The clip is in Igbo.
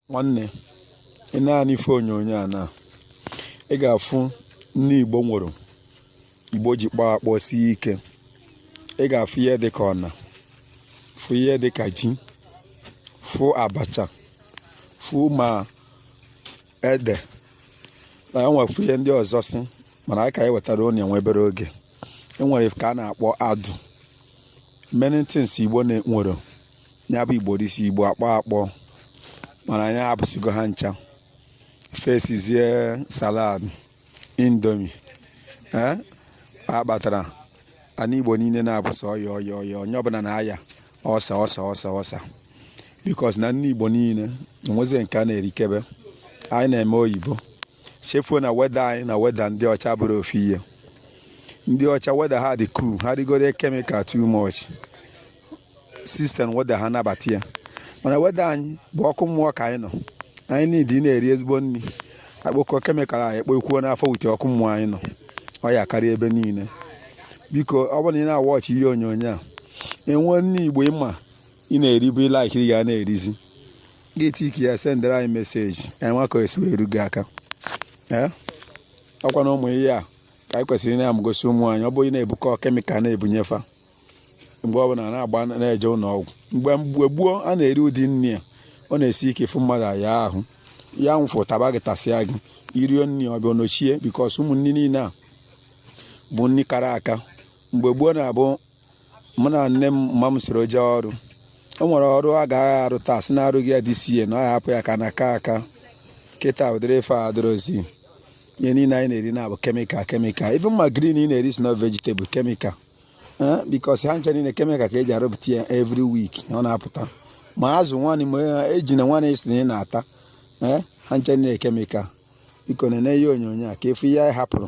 nwanne ị na-ene ife onyonyo a na ị ga-afụ nni igbo nwere igbo ji kpọọ akpọ sie ike ị ga-afụ ihe dị ka ọna fụ ihe dị ka ji fụ abacha fụ ma ede na enwefu ihe ndị ọzọsị mana aka anyị wetara onye nwe obere oge enwere nke a na-akpọ adụ many things igbo na-enwere ya bụ igbo dịsi igbo akpọ akpọ mana anyị hapụsigo ha ncha fesizie salad indomie ee a kpatara ana igbo niile na-abụzị ọya ọya ọya onye ọbụla na-aya ọsa ọsa ọsa ọsa because na nni igbo niile enwezie nke a na-erikebe anyị na-eme oyibo chefuo na weather anyị na weather ndị ọcha abụrọ ofu ihe ndị ọcha weather ha dị cool ha rigodu chemical too much system weather ha na-anabata ya mana weather anyị bụ ọkụ mmụọ ka anyị nọ anyị niile na-eri ezigbo nri a kpokọọ chemical anyị kpokwuo n'afọ with ọkụ mmụọ anyị nọ ọya karịa ebe niile biko ọ bụrụ na ị na-awatch ihe onyonyo a enwe nni igbo ị ma ị na-eribu ị like ị ga na-erizi ga-etiki ya sendere anyị message ka anyị ma ka esi wee eru gị aka ee ọkwa na ụmụ ihe a ka anyị kwesịrị na-amụgosi ụmụ anyị ọ bụghị na-ebukọ chemical na-ebunye fa mgbe ọ bụla na-agba na-eje ụlọ ọgwụ mgbe mgbe gboo a na-eri ụdị nri a ọ na-esi ike ịfụ mmadụ aya ahụ ya nwụfụ taba gị tasịa gị i rie nri ọ bịa nochie because ụmụ nri niile a bụ nri kara aka mgbe gboo na-abụ mụ na nne m mma m soro jee ọrụ o nwere ọrụ a ga-aga arụ taa sị na-arụghị ya dịsie na ọ hapụ ya ka na-aka aka kịta ụdịrị ife a adịrọzi ihe niile anyị na-eri na-abụ chemical chemical even ma green ị na-eri sị na vegetable chemical eh, because ha ncha niile chemical ka eji arụpụta ya every week na ọ na-apụta ma azụ nwanne ma ejuna nwanne ị sị na ị na-ata eh, ha ncha niile chemical biko na-ene ihe onyonyo a ka ị fụ ihe anyị hapụrụ